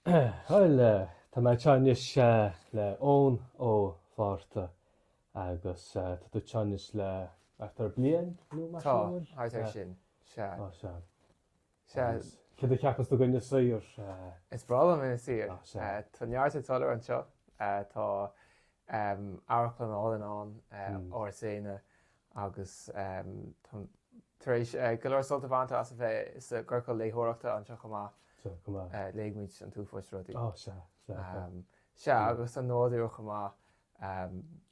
Bhuel, tá mé anseo anois le Eoin Ó Fátharta agus tá tú anseo anois le thart ar bliain, nó mar sin, an bhfuil? Tá, thart ar sin, sea. Ó, sea. Sea. Agus céard a cheapas tú de Inis Oírr? Is breá liom Inis Oírr. Ó, sea. Tá neart ag dul ar aghaidh anseo. Tá amharclann álainn ann, Áras Éanna, agus tar éis go leor sult a bhaint as a bheith i gciorcal léitheoireachta anseo chomh maith, léigh muid an t-uafáis rudaí. Ó, sea, sea, sea. Sea, agus an nádúr chomh maith.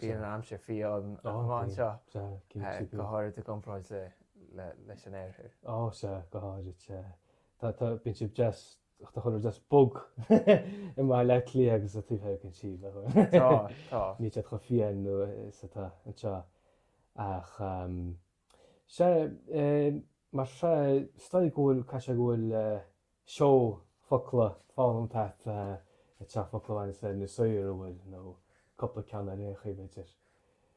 Bíonn an aimsir fiáin chomh maith anseo, go háirid i gcomparáid leis an oirthear. Ó, sea, go háirid, sea. Bíonn siad deas Ach tá chuile rud just bog i mBaile Átha Cliath agus sa taobh thoir, gan siúl, a thuar. Tá, tá. Níl siad chomh fiáin nó is atá anseo ach sea, mar sin is dóigh go bhfuil, caithfidh sé go bhfuil seó focla foghlamtha agat, focla a bhaineas le Inis Oírr a bhfuil nó cupla ceann ar aon chaoi b'fhéidir.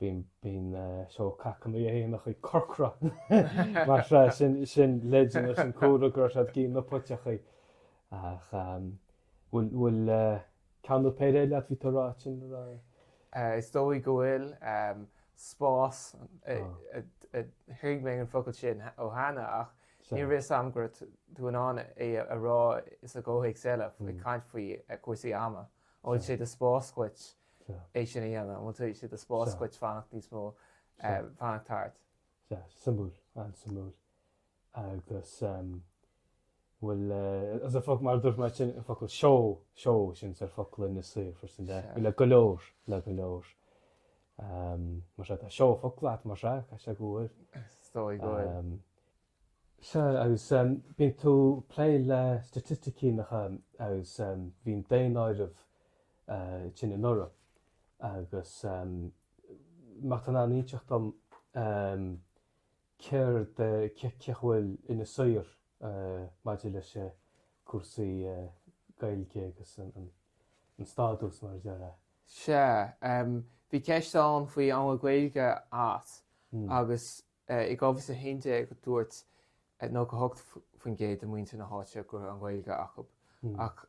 bíonn, bíonn seó cac na n-éanachaí corcra mar sea, sin, sin leideanna, sin comhartha go raibh siad ag ithe na puiteachaí ach ehm bhfuil, bhfuil eh ceann nó péire eile bhí tú a' rá ansin a raibh? Eh is dóigh go bhfuil ehm spás eh, thuig mé an focal sin cheana ach ní raibh fhios a'm go raibh tú in ann é a rá sa gcomhthéacs eile, ag caint faoi cúrsaí ama, an bhfuil sé de spás dhuit, é sin a dhéanamh, an bhfuil sé de spás dhuit fanacht níos mó, fanacht thart? Sea, suimiúil, an-suimiúil. Agus bhfuil fhios a'd an focal, mar a dúirt mé sin, an focal seó, seó, sin sórt focal Inis Oírr freisin, bhfuil le go leor, le go leor. Mar sin, tá seó focla agat, mar sin, caithfidh sé go bhfuil. Is dóigh go bhfuil. Sea, agus bíonn tú ag plé le staitisticí nach ea, agus bhí an daonáireamh déanta anuraidh, agus má tá tú in ann inseacht dom céard, cén chaoi a bhfuil Inis Oírr maidir leis cúrsaí Gaeilge agus an stádas, mar a déarfá? Sea, bhí ceist ann faoi ehm Gaeilge as, agus I 2011 dúirt 98% de mhuintir na háite go raibh an Ghaeilge acu ach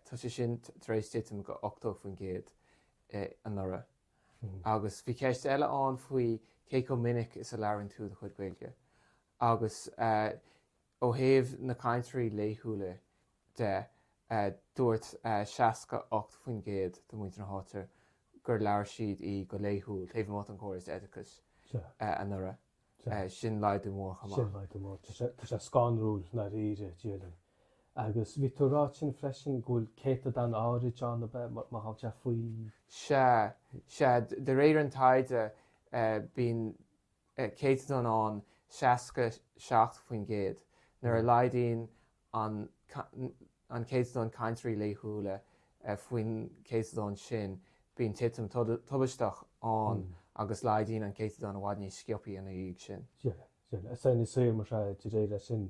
tá sé sin tar éis titim go 80% anuraidh. Agus bhí ceist eile ann faoi cé chomh minic is a labhraíonn tú do chuid Gaeilge agus Ó thaobh na cainteoirí laethúla de, dúirt 68% de mhuintir na háite gur labhair siad í go laethúil, taobh amuigh den chóras oideachais, anuraidh. Sin laghdú mór chomh maith. Sin laghdú mór. Tá sé scanrúil, i ndáiríre, déarfainn. Agus bhí tú ag rá ansin freisin go bhfuil céatadán áirid ann ab ea, má tá sé faoi? Sea. Sea. De réir an taighde, bíonn céatadán ann, 67%, nuair a laghdaíonn an céatadán cainteoirí laethúla faoin céatadán sin, bíonn titim tubaisteach ann agus laghdaíonn an céatadán i bhfad níos sciobthaí ina dhiaidh sin. Sea, sea. Is sainiúil mar sin, de réir sin,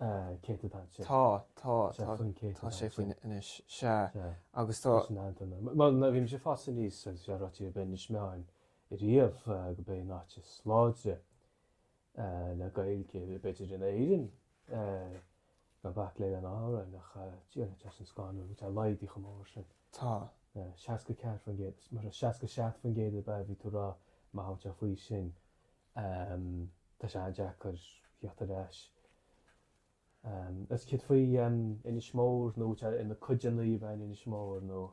Cé tú tá sé? Tá, tá, tá, tá sé faoi anois, sea, agus tá. Sin an t-am. Bhuel, nuair a bhí mise ag fás aníos, agus bhí an rud faoi Inis Meáin ariamh go b'é an áit is láidre le Gaeilge, b'fhéidir, in Éirinn, gan bac le in Árainn, ach dia duit as an scánnadh, bhí sé laghdaithe chomh mór sin. Tá. 64%, is mar 67% ar bith a bhí tú a rá, má tá tú faoi sin. Tá sé an-deacair theacht ar ais. Is céard faoi Inis Mór nó tá ina chuideanna ab ea Inis Mór nó?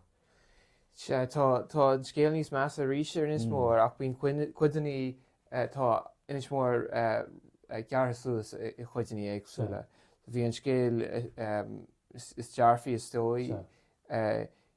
Sea, tá an scéal níos measa arís ar Inis Mór ach bíonn cuideannaí, tá Inis Mór gearrtha suas i gcuideannaí éagsúla. Bhí an scéal is dearfaí is dóigh.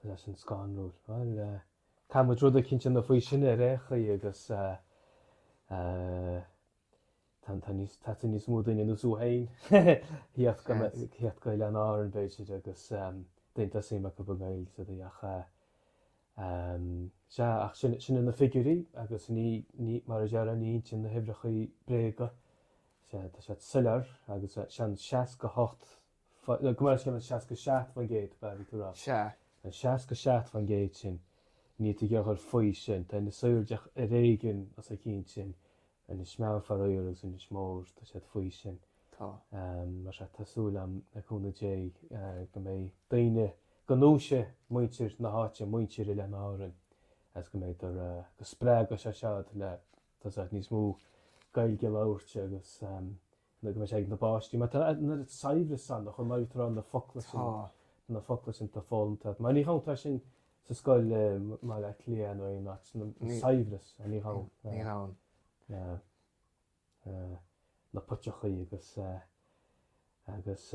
Tá sé sin scanrúil. Bhuel, caithfidh muid rud éicint a dhéanamh faoi sin ar aon chaoi, agus teastaíonn níos mó daoine ar nós thú féin a thíocht go Oileáin Árann, b'fhéidir, agus daoine atá suim acu i nGaeilg sa dtaobh ach sea, ach sin sin na figiúirí agus ní, ní, mar a déarfá ní insíonn na huimhreacha bréaga, sea, tá siad soiléir agus sea an 68 Gabh mo leithscéal an seasca seacht faoin gcéad, ba cheart dom a rá. Sea. An seasca seacht faoin gcéad sin, níl tú ag iarraidh faoi sin. Tá Inis Oírr díreach ar éigin os a chionn sin. Inis Meáin, faraor, agus Inis Mór, tá siad faoi sin. Tá. Mar sea, tá súil agam, le cúnamh Dé, go mbeidh daoine, go ndúisfidh muintir na háite, muintir Oileáin Árann, agus go mbeidh, go spreagfaidh sé seo iad le, tá a fhios agat, níos mó Gaeilge a labhairt agus, Nuair atá sé ag na bpáistí, mar tá nuair a saibhreas ann, chomh maith atá na focla sin, na focla sin tá fólam tá. Mar ní há tá sin sa scoil mar a clé nó é ná saibhreas a ní há. Ní há. na potechaí agus agus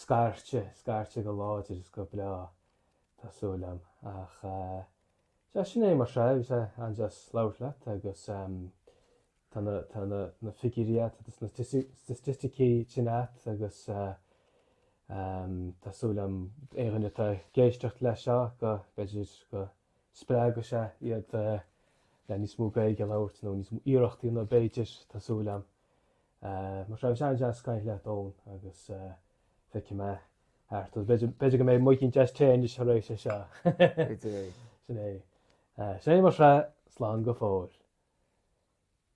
Scairte, scairte go láidir is go breá, tá súil agam. Ach sea, sin é mar sin, bhí sé an-deas labhairt leat agus tá na figiúirí agat agus na staitisticí sin agat agus tá súil agam aon dhuine atá ag éisteacht leis seo go mb'fhéidir go spreagfadh sé iad le níos mó Gaeilge a labhairt nó níos mó iarrachtaí a dhéanamh b'fhéidir, tá súil agam. Eh, bhí sé an-deas caint leat agus feicfidh mé ar ais thú. B'fhéidir go mbeidh muid ag caint Gaeilge anois tar éis seo. Sin é. Sin é mar sin slán go fóill.